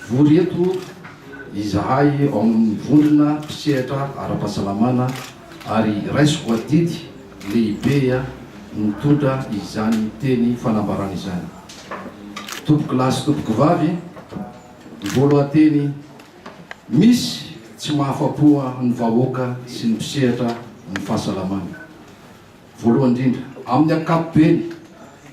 Vory eto izahay ao amin'ny vondrona mpisehatra ara-pahasalamana ary raisiko adidy lehibe mitondra izany teny fanambarana izany. Tompoko lahy sy tompoko vavy, voalohan-teny, misy tsy mahafapo ny vahoaka sy ny mpisehatra ny fahasalamana. Voalohany indrindra, amin'ny ankapobeny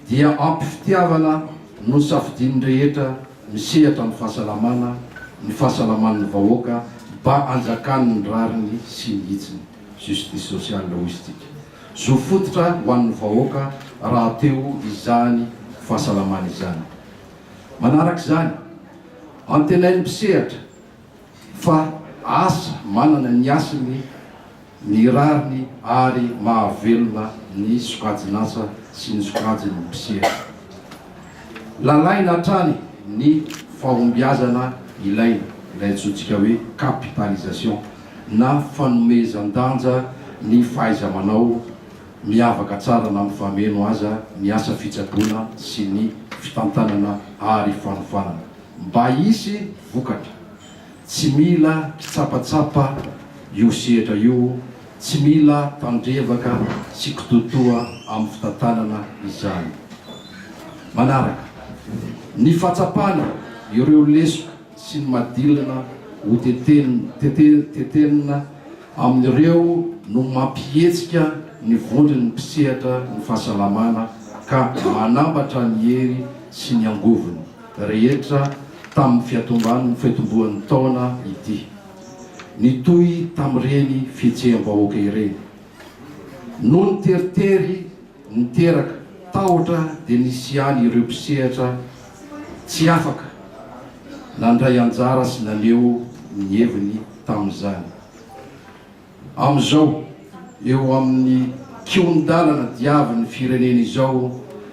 dia ampy fitiavana no nosafidian'ny rehetra misehatra amin'ny fahasalamana ny fahasalaman'ny vahoaka mba hanjakan'ny rariny sy ny hitsiny, justice sociale hoy isika. Zo fototra ho an'ny vahoaka rahateo izany fahasalamana izany. Manaraka izany, antenain'ny mpisehatra. Fa asa manana ny hasiny, ny rariny ary mahavelona ny sokajin'asa sy ny sokajin'ny mpisera. Lalaina hatrany ny fahombiazana ilaina, ilay antsointsika hoe capitalisation na fanomezan-danja ny fahaiza-manao, miavaka tsara na mifameno aza ny asa fitsaboana sy ny fitantanana ary fanofanana. Mba hisy vokatra. Tsy mila kitsapatsapa io sehatra io, tsy mila tandrevaka sy kitoatoa amin'ny fitantanana izany. Manaraka. Ny fahatsapana ireo lesoka sy ny madilina ho tetenina amin'ireo no mampihetsika ny vondron'ny mpisehatra ny fahasalamana ka manambatra ny hery sy ny angovony. rehetra tamin'ny fiatomban'ny fiatombohan'ny taona ity. Nitohy tamin'ireny fihetseham-bahoaka ireny. Noho ny teritery niteraka tahotra dia nisy ihany ireo mpisehatra tsy afaka nandray anjara sy naneho ny heviny tamin'izany. Amin'izao eo amin'ny kihon-dalana diavin'ny firenena izao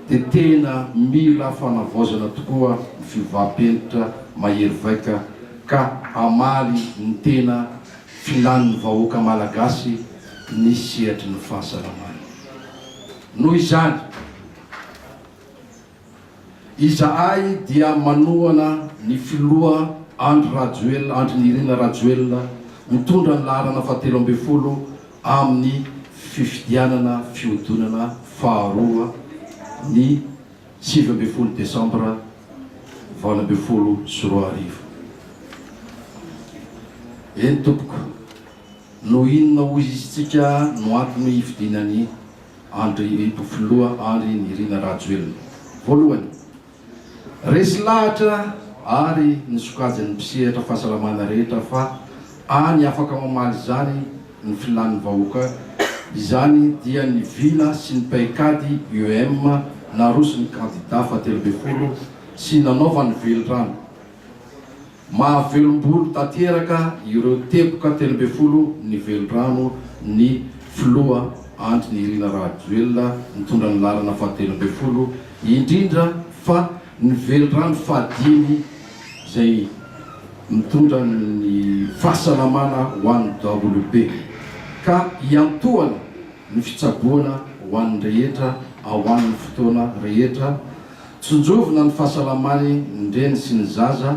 dia tena mila fanavaozana tokoa ny fiovam-penitra mahery vaika ka hamaly ny tena filàn'ny vahoaka malagasy ny sehatry ny fahasalamana. Noho izany. Izahay dia manohana ny filoha Andry Rajoelina, Andry Nirina Rajoelina, mitondra ny laharana fahatelo ambin'ny folo amin'ny fifidianana fihodinana faharoa ny sivy ambin'ny folo desambra valo ambin'ny folo sy roa arivo. Eny tompoko, noho inona hoy izy tsika no antony hifidiana ny. Andry Ito Filoha Andry Nirina Rajoelina. Voalohany, resy lahatra ary ny sokajin'ny mpisehatra fahasalamana rehetra fa any afaka mamaly izany ny filan'ny vahoaka izany dia ny vina sy ny paikady UEM naroson'ny kandida fahatelobefolo sy nanaovany velirano Mahavelom-bolo tanteraka ireo teboka telo ambin'ny folo ny velirano ny filoha Andry Nirina Rajoelina nitondra ny lalana fahatelo ambin'ny folo, indrindra fa ny velirano fahadimy izay mitondra ny fahasalamana ho an'ny WB, ka hiantohana ny fitsaboana ho an'ny rehetra ao amin'ny fotoana rehetra. Tsinjovina ny fahasalaman'ny reny sy ny zaza,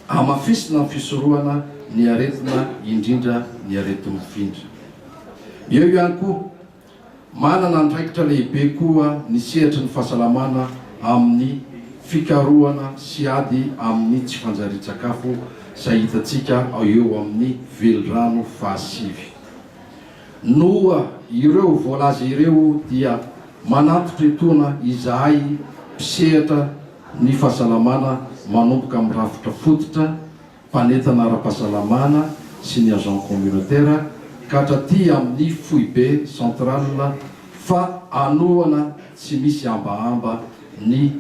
hamafisina ny fisorohana ny aretina indrindra ny areti-mifindra. Eo ihany koa, manana andraikitra lehibe koa ny sehatry ny fahasalamana amin'ny fikarohana sy ady amin'ny tsy fanjarian-tsakafo izay hitantsika eo amin'ny velirano fahasivy. Noho ireo voalaza ireo dia manantitra etoana izahay mpisehatra ny fahasalamana manomboka amin'ny rafitra fototra, mpanentana ara-pahasalamana sy ny agent communautaire ka hatraty amin'ny foibe, centrale, fa hanohana tsy misy hambahamba ny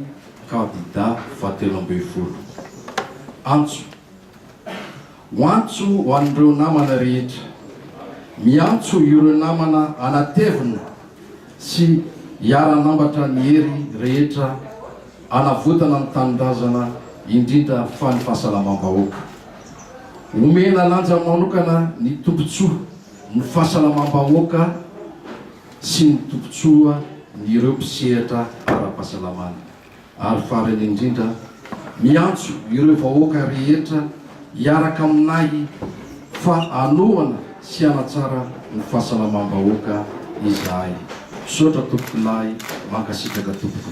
kandida fahatelo ambin'ny folo. Antso. Ho antso ho an'ireo namana rehetra. Miantso ireo namana hanatevina sy hiara-hanambatra ny hery rehetra hanavotana ny tanindrazana indrindra fa ny fahasalamam-bahoaka. Omena lanja manokana ny tombontsoa ny fahasalamam-bahoaka sy ny tombontsoa ny ireo mpisehatra ara-pahasalamana. Ary farany indrindra, miantso ireo vahoaka rehetra hiaraka aminahy fa hanohana sy hanatsara ny fahasalamam-bahoaka izahay. Misaotra Tompokolahy, mankasitraka tompoko.